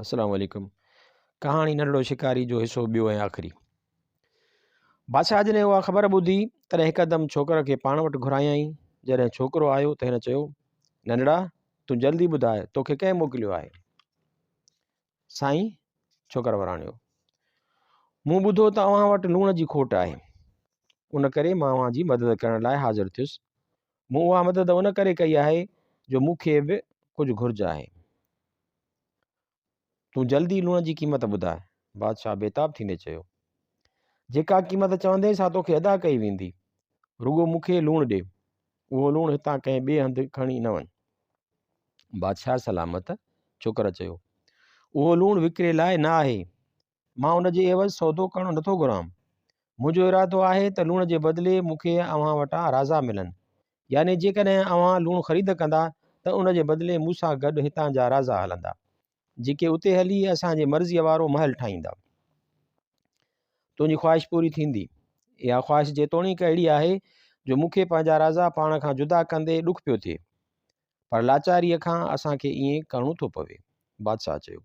السلام عليڪم ڪهاڻي ننڍڙو شڪاري جو حصو ٻيو ۽ آخري بادشاهه جڏهن اها خبر ٻڌي تڏهن هڪدم ڇوڪر کي پاڻ وٽ گهرايائين جڏهن ڇوڪرو آيو ته هن چيو ننڍڙا تون جلدي ٻڌاء توکي ڪنهن موڪليو آهي سائين ڇوڪر وراڻيو مون ٻڌو ته اوهان وٽ لوڻ جي کوٽ آهي ان ڪري مان اوهان جي مدد ڪرڻ لاء حاضر ٿيس مون اها مدد ان ڪري ڪئي آهي جو مون کي به ڪجهه گهرج آهي تون جلدي لوڻ جي قيمت ٻڌاء بادشاهه بيتاب ٿيندي چيو جيڪا قيمت چوندين سا توکي ادا ڪئي ويندي رڳو مون کي لوڻ ڏي اهو لوڻ هتان ڪنهن ٻئي هنڌ کڻي نه وڃ بادشاهه سلامت چوڪر چيو اهو لوڻ وڪري لاء نه آهي مان ان جي عيوض سودو ڪرڻ نه ٿو گهران. منهنجو ارادو آهي ته لوڻ جي بدلي مون کي اوهان وٽان رازا ملن. يعني جيڪڏهن اوهان لوڻ خريد ڪندا ته ان جي بدلي مون سان گڏ هتان جا رازا هلندا، جيڪي اتي هلي اسان جي مرضيء وارو محل ٺاهيندا. تنهنجي خواهش پوري ٿيندي. اها خواهش جيتوڻيڪ اهڙي آهي جو مون کي پنهنجا رازا پاڻ کان جدا ڪندي ڏک پيو ٿئي، پر لاچاريء کان اسان کي ائين ڪرڻو ٿو پوي. بادشاهه چيو.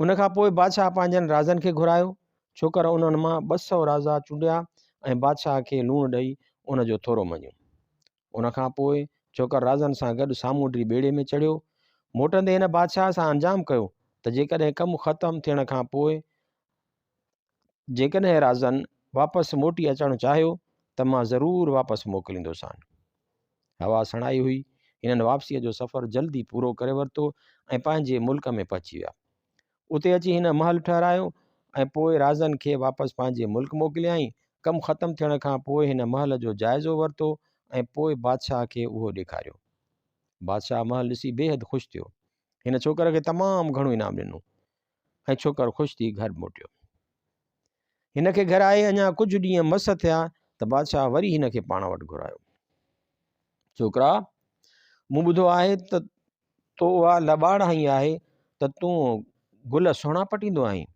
ان کان پوء بادشاهه پنهنجن رازن کي گهرايو ڇوڪر انهن مان ٻه سؤ رازا چونڊيا ۽ بادشاهه کي لوڻ ڏئي ان جو ٿورو مڃيو ان کان پوء ڇوڪر رازن سان گڏ سامونڊي ٻيڙي ۾ چڙهيو موٽندي هن بادشاهه سان انجام ڪيو ته جيڪڏهن ڪم ختم ٿيڻ کان پوء جيڪڏهن رازن واپس موٽي اچڻ چاهيو ته مان ضرور واپس موڪليندوسان. هوا سڻائي هئي، هنن واپسيء جو سفر جلد ئي پورو ڪري ورتو ۽ پنهنجي ملڪ ۾ پهچي ويا. اتي اچي هن محل ٺهرايو ۽ پوء رازن کي واپس پنهنجي ملڪ موڪليائين. ڪم ختم ٿيڻ کان پوء هن محل جو جائزو ورتو ۽ پوء بادشاهه کي اهو ڏيکاريو. بادشاهه محل ڏسي بيحد خوش ٿيو. هن ڇوڪر کي تمام گهڻو انعام ڏنو. ۽ ڇوڪر خوش ٿي گهر موٽيو. هن کي گهر آئي اڃا ڪجهه ڏينهن مس ٿيا ته بادشاهه وري هن کي پاڻ وٽ گهرايو. ڇوڪرا! مون ٻڌو آهي ته تو اها لٻاڙ هنئي آهي ته تون گل سهڻا پٽيندو آهين.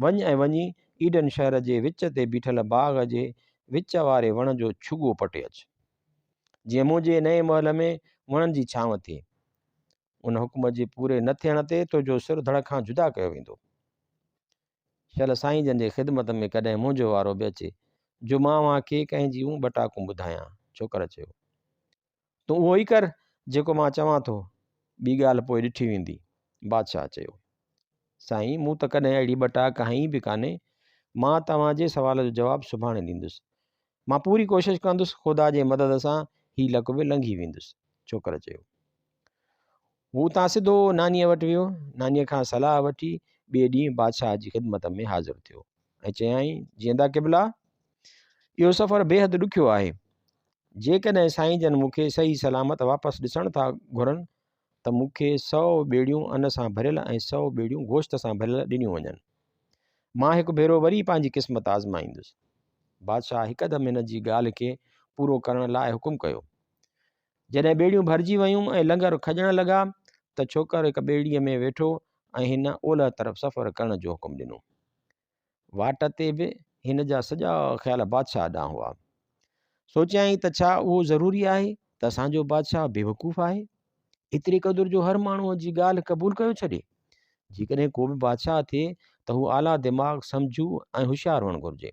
وڃ ۽ وڃي ايڊن شهر جي وچ تي بيٺل باغ جي وچ واري وڻ جو ڇڳو پٽي اچ. جيئن منهنجي نئين محل ۾ وڻن جي ڇانو ٿئي. ان حڪم جي پوري نه ٿيڻ تي تنهنجو سر ڌڙ کان جدا ڪيو ويندو. شل سائين جن جي خدمت ۾ ڪڏهن منهنجو وارو به اچي جو مان اوهان کي ڪنهن جيون ٻه ٽاڪون ٻڌايان. ڇوڪر چيو. تون اهو ئي ڪر جيڪو مان چوان ٿو، ٻي ڳالهه پوء ڏٺي ويندي. بادشاهه چيو. سائين مون ته ڪڏهن اهڙي ٻه ٽاڪ هنئي به ڪانهي. مان توهان جي سوال جو جواب سڀاڻي ڏيندس. مان پوري ڪوشش ڪندس خدا جي مدد سان هي لڪ به لنگهي ويندس. ڇوڪر چيو. هو اتان سڌو نانيء وٽ ويو نانيء کان صلاح وٺي ٻئي ڏينهن بادشاهه جي خدمت ۾ حاضر ٿيو ۽ چيائين جيئندا قبلا اهو سفر بيحد ڏکيو آهي جيڪڏهن سائين جن مون کي صحيح سلامت واپس ڏسڻ ٿا گهرن ته مون کي سو ٻيڙيون ان سان ڀريل ۽ سو ٻيڙيون گوشت سان ڀريل ڏنيون وڃن مان هڪ ڀيرو وري پنهنجي قسمت آزمائيندس بادشاهه هڪدم هن جي ڳالهه کي پورو ڪرڻ لاء حڪم ڪيو جڏهن ٻيڙيون ڀرجي ويون ۽ لنگر کڄڻ لڳا ته ڇوڪر هڪ ٻيڙيء ۾ ويٺو ۽ هن اولهه طرف سفر ڪرڻ جو حڪم ڏنو. واٽ تي به هن جا سڄا خيال بادشاهه ڏانهن هئا. سوچيائين ته ڇا اهو ضروري آهي ته اسان جو بادشاهه بيوقوف آهي؟ ايتري قدر جو هر ماڻهوء جي ڳالهه قبول ڪيو ڇڏي. جيڪڏهن ڪو به بادشاهه ٿئي ته هو اعليٰ دماغ، سمجهو ۽ هوشيار هئڻ گهرجي.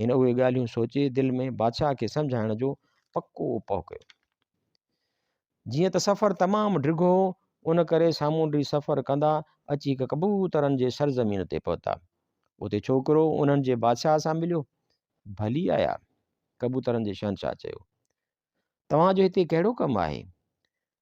هن اهي ڳالهيون سوچي دل ۾ بادشاهه کي سمجهائڻ جو پڪو اپاء ڪيو. جيئن ته سفر تمام ڊگهو هو، ان ڪري سامونڊي سفر ڪندا اچي هڪ ڪبوترن جي سرزمين تي پهتا. اتي ڇوڪرو انهن جي بادشاهه سان مليو. ڀلي آيا! ڪبوترن جي شهنشاهه چيو. توهان جو هتي ڪهڙو ڪم آهي؟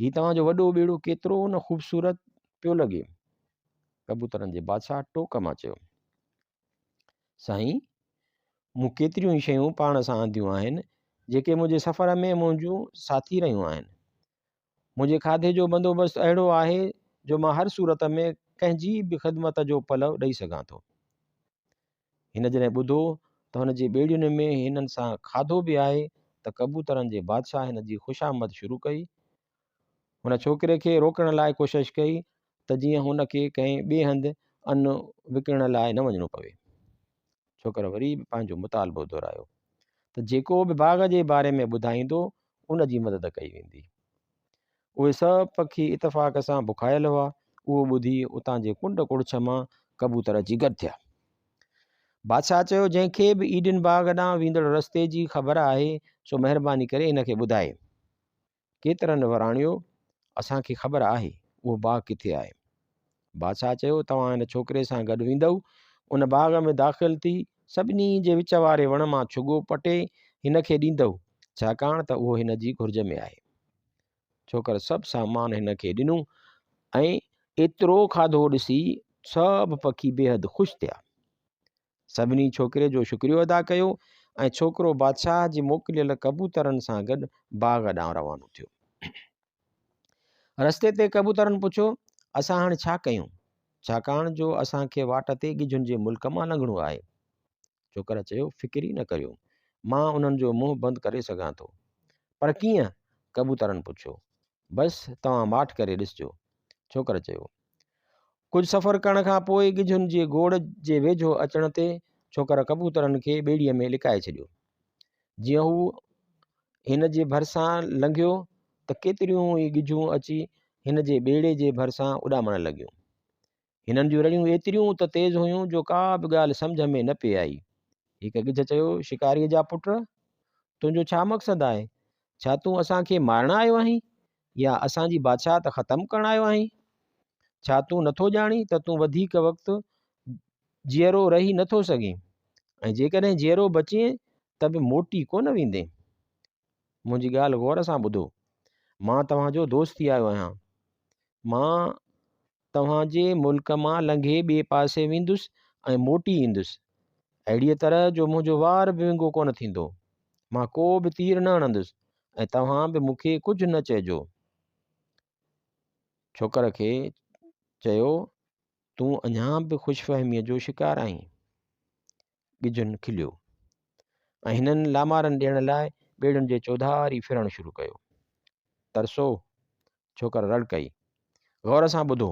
هي توهان جو وڏو ٻيڙو ڪيترو نه خوبصورت پيو لڳي ڪبوترن جي بادشاهه ٽوڪ مان چيو سائين مون ڪيتريون ئي شيون پاڻ سان آنديون آهن جيڪي منهنجي سفر ۾ منهنجون ساٿي رهيون آهن منهنجي کاڌي جو بندوبست اهڙو آهي جو مان هر صورت ۾ ڪنهن جي به خدمت جو پلو ڏئي سگهان ٿو هن جڏهن ٻڌو ته هن جي ٻيڙين ۾ هنن سان کاڌو به آهي ته ڪبوترن جي بادشاهه هن جي خوشامد شروع ڪئي. هن ڇوڪري کي روڪڻ لاء ڪوشش ڪئي ته جيئن هن کي ڪنهن ٻئي هنڌ ان وڪڻڻ لاء نه وڃڻو پوي. ڇوڪر وري به پنهنجو مطالبو دهرايو ته جيڪو به باغ جي باري ۾ ٻڌائيندو ان جي مدد ڪئي ويندي. اهي سڀ پکي اتفاق سان بکايل هئا. اهو ٻڌي اتان جي ڪنڊ ڪڙڇ مان ڪبوتر اچي گڏ ٿيا. بادشاهه چيو جنهن کي به ايڊن باغ ڏانهن ويندڙ رستي جي خبر آهي سو مهرباني ڪري هن کي ٻڌائي. ڪيترن وراڻيو اسان کي خبر آهي اهو باغ ڪٿي آهي. بادشاهه چيو توهان هن ڇوڪري سان گڏ ويندؤ ان باغ ۾ داخل ٿي سڀني جي وچ واري وڻ مان ڇڳو پٽي هن کي ڏيندؤ ڇاڪاڻ ته اهو هن جي گهرج ۾ آهي ڇوڪر سڀ سامان هن کي ڏنو ۽ ايترو کاڌو ڏسي سڀ پکي بيحد خوش ٿيا سڀني ڇوڪري جو شڪريو ادا ڪيو ۽ ڇوڪرو بادشاهه جي موڪليل ڪبوترن سان گڏ باغ ڏانهن روانو ٿيو رستي تي ڪبوترن پڇيو اسان هاڻي ڇا ڪيون ڇاڪاڻ جو اسان کي واٽ تي ڳجهن جي ملڪ مان لنگهڻو آهي ڇوڪر چيو فڪر ئي نه ڪريو مان انهن جو منهن بند ڪري سگهان ٿو پر ڪيئن ڪبوترن پڇيو بس توهان ماٺ ڪري ڏسجو. ڇوڪر چيو. ڪجهه سفر ڪرڻ کان پوء ڳجهن جي گوڙ جي ويجهو اچڻ تي ڇوڪر ڪبوترن کي ٻيڙيء ۾ لڪائي ڇڏيو. جيئن هو هن جي ڀرسان لنگهيو ته ڪيتريون ئي ڳجهون اچي هن جي ٻيڙي جي ڀرسان اڏامڻ لڳيون. هنن جون رڙيون ايتريون ته تيز هيون جو ڪا به ڳالهه سمجهه ۾ نه پئي آئي. هڪ ڳجهه چيو، شڪاريء جا پٽ! تنهنجو ڇا مقصد آهي؟ ڇا تون اسان کي مارڻ آيو آهين يا اسان جي بادشاهت ختم ڪرڻ آيو آهين؟ ڇا تون نٿو ڄاڻين ته تون وڌيڪ وقت جيئرو رهي نٿو سگهين ۽ جيڪڏهن جيئرو بچين ته به موٽي ڪونه ويندين؟ منهنجي ڳالهه غور سان ٻڌو. مان توهان جو دوست ٿي آيو آهيان. مان توهان جي ملڪ مان لنگهي ٻئي پاسي ويندس ۽ موٽي ايندس، اهڙيء طرح جو منهنجو وار به ونگو ڪونه ٿيندو. مان ڪو به تير نه هڻندس ۽ توهان به مون کي ڪجهه نه چئجو. ڇوڪر کي چيو، تون اڃا به خوش فهميء جو شڪار آهين. ڳجهن کليو ۽ هنن لامارن ڏيڻ لاء ٻيڙين جي چوڌاري ڦرڻ شروع ڪيو. ترسو ڇوڪر رڙ ڪئي. غور سان ٻڌو.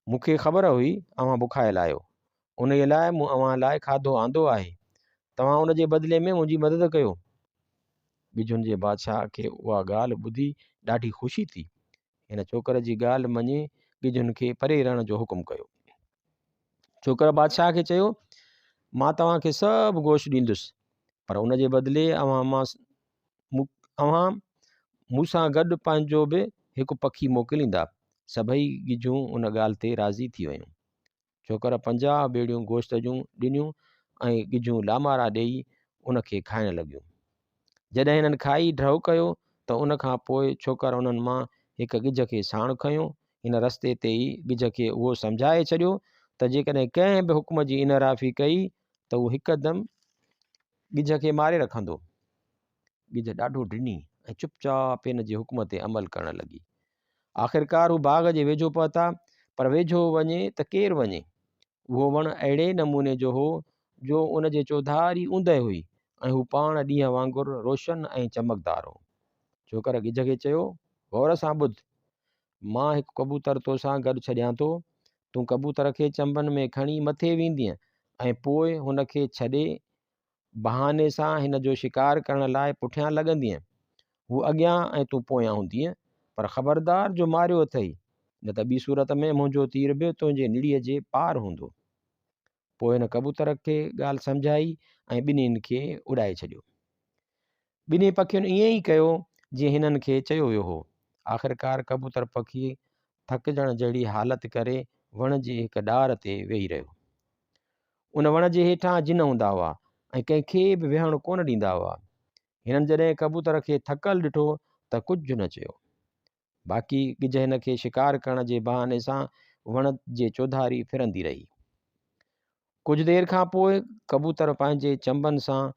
مون کي خبر هئي اوهان بکايل آهيو. انهيء لاء مون اوهان لاء کاڌو آندو آهي. توهان ان جي بدلي ۾ منهنجي مدد ڪيو. ڳجهن جي بادشاهه کي اها ڳالهه ٻڌي ڏاڍي خوشي ٿي. هن ڇوڪر جي ڳالهه مڃي ڳجهن کي پري رهڻ جو حڪم ڪيو ڇوڪر بادشاهه کي چيو مان توهان کي سڀ گوشت ڏيندس پر ان جي بدلي اوهان مان اوهان مون سان گڏ پنهنجو به هڪ پکي موڪليندا سڀئي ڳجهون ان ڳالهه تي راضي ٿي ويون ڇوڪر پنجاهه ٻيڙيون گوشت جون ڏنيون ۽ ڳجهون لامارا ڏيئي ان کي کائڻ لڳيون. جڏهن هنن کائي ڍؤ ڪيو ته ان کان پوء ڇوڪر انهن مان هڪ ڳجهه کي ساڻ کنيو. هن رستي تي ئي ڳجهه کي اهو سمجهائي ڇڏيو ته جيڪڏهن ڪنهن به حڪم جي انحرافي ڪئي ته هو هڪدم ڳجهه کي ماري رکندو. ڳجهه ڏاڍو ڊني ۽ چپ چاپ هن جي حڪم تي عمل ڪرڻ لڳي. آخرڪار هو باغ جي ويجهو پهتا، پر ويجهو وڃي ته ڪير وڃي؟ اهو وڻ اهڙي نموني جو هو، جو ان جي چوڌاري اوندهه هئي ۽ هو پاڻ ڏينهن وانگر روشن ۽ چمڪدار هو. جوڪر ڳجهه کي چيو، غور سان ٻڌ! مان هڪ ڪبوتر تو سان گڏ ڇڏيان ٿو. تون ڪبوتر کي چنبن ۾ کڻي مٿي ويندينء ۽ پوء هن کي ڇڏي بهاني سان هن جو شڪار ڪرڻ لاء پٺيان لڳندينء. هو اڳيان ۽ تون پويان هوندينء، پر خبردار جو ماريو اٿئي، نه ته ٻي صورت ۾ منهنجو تير به تنهنجي نڙيء جي پار هوندو. پوء هن ڪبوتر کي ڳالهه سمجهائي ۽ ٻنهين کي اڏائي ڇڏيو. ٻنهي پکين ائين ئي ڪيو جيئن هنن کي چيو ويو هو. آخرڪار ڪبوتر پکي ٿڪجڻ جهڙي حالت ڪري وڻ جي هڪ ڏار تي ويهي رهيو. ان وڻ جي هيٺان جن هوندا هئا ۽ ڪنهن کي به ويهڻ ڪونه ڏيندا هئا. هنن جڏهن ڪبوتر کي ٿڪل ڏٺو ته ڪجهه نه چيو. باقي ڳجهه هن کي شڪار ڪرڻ جي بهاني سان وڻ جي چوڌاري ڦرندي رهي. ڪجهه دير کان پوء ڪبوتر پنهنجي چنبن سان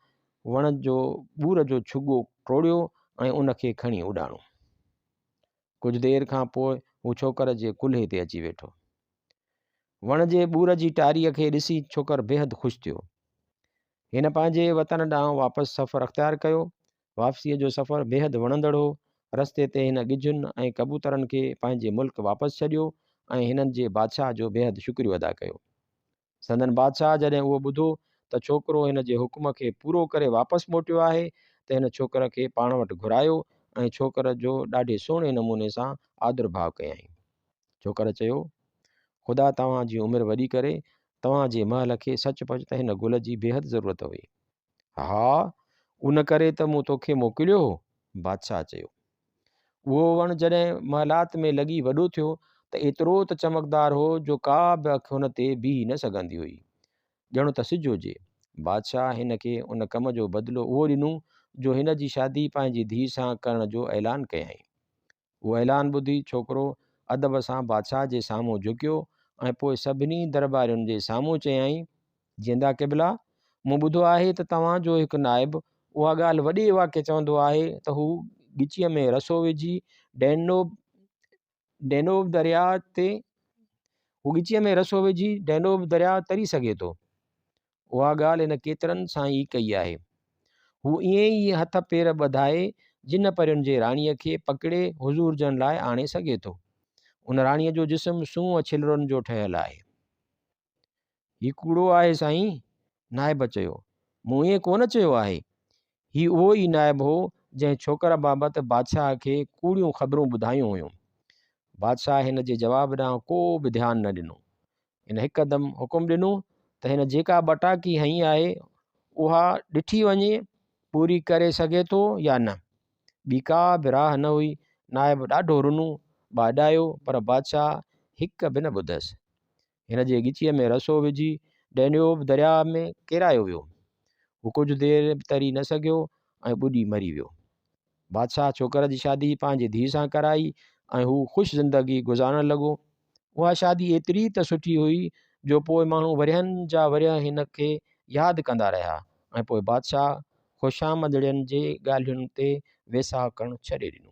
وڻ جو ٻور جو ڇڳو ٽوڙيو ۽ ان کي کڻي اڏاڻو. ڪجهه دير کان پوء هو ڇوڪر جي ڪلهي تي اچي ويٺو. وڻ جي ٻور جي ٽاريء کي ڏسي ڇوڪر بيحد خوش ٿيو. هن پنهنجي وطن ڏانهن واپس سفر اختيار ڪيو واپسيء جو سفر بيحد وڻندڙ هو. رستي تي هن ڳجهن ۽ ڪبوترن کي پنهنجي ملڪ واپس ڇڏيو ۽ هنن جي بادشاهه جو بيحد شڪريو ادا ڪيو. سندن بادشاهه جڏهن اهو ٻڌو ته ڇوڪرو هن جي حڪم کي پورو ڪري واپس موٽيو آهي ته هن ڇوڪر کي پاڻ وٽ گهرايو ۽ ڇوڪر جو ڏاڍي سهڻي نموني سان آدرڀاء ڪيائين. ڇوڪر چيو، خدا توهان جي عمر وڏي ڪري، توهان جي محل کي سچ پچ ته هن گل جي بيحد ضرورت هئي. ها، ان ڪري ته مون توکي موڪليو هو. بادشاهه چيو. اهو وڻ جڏهن محلات ۾ لڳي وڏو ٿيو ته ايترو ته چمڪدار هو جو ڪا به اک هن تي بيهي نه سگهندي هئي. ڄڻ ته سج هجي. بادشاهه هن کي ان ڪم جو بدلو اهو ڏنو جو هن جي شادي پنهنجي ڌيء سان ڪرڻ جو اعلان ڪيائين. اهو اعلان ٻڌي ڇوڪرو ادب سان بادشاهه جي سامهون جهڪيو ۽ پوء سڀني درٻارين جي سامهون چيائين، جيندا قبلا! مون ٻڌو آهي ته توهان جو هڪ نائب اها ڳالهه وڏي واڪي چوندو آهي ته هو ڳچيء ۾ رسو وجهي ڊينوب Danube درياء تي هو ڳچيء ۾ رسو وجهي ڊينوب درياء تري سگهي ٿو. اها ڳالهه هن ڪيترن سان ئي ڪئي آهي. هو ائين ئي هٿ پير ٻڌائي جن پرين جي راڻيء کي پڪڙي حضور جن لاء آڻي سگهي ٿو. ان راڻيء جو جسم سونهن ڇلرن جو ٺهيل آهي. هي ڪوڙو آهي سائين! نائب چيو. مون ائين ڪو نه چيو آهي. هي اهو ئي نائب هو جنهن ڇوڪر بابت بادشاهه کي ڪوڙيون خبرون ٻڌايون هيون. بادشاهه هن جي جواب ڏانهن ڪو به ڌيان نه ڏنو. هن هڪدم حڪم ڏنو ته هن جيڪا ٻٽاڪي هنئي آهي اها ڏٺي وڃي پوري ڪري سگهي ٿو يا نه ٻي ڪا به راء نه هئي نائب ڏاڍو رنو ٻاڏايو پر بادشاهه هڪ به نه ٻڌس هن جي ڳچيء ۾ رسو وجهي ڊينيوب درياء ۾ ڪيرايو ويو هو ڪجهه دير تري نه سگهيو ۽ ٻڏي مري ويو بادشاهه ڇوڪر جي شادي پنهنجي ڌيء سان ڪرائي ۽ هو خوش زندگي گذارڻ لڳو. اها شادي ايتري ته سٺي هئي جو پوء ماڻهو ورهين جا ورهيه هن کي ياد ڪندا رهيا ۽ پوء بادشاهه خوشامدڙين جي ڳالهين تي ويساهه ڪرڻ ڇڏي ڏنو.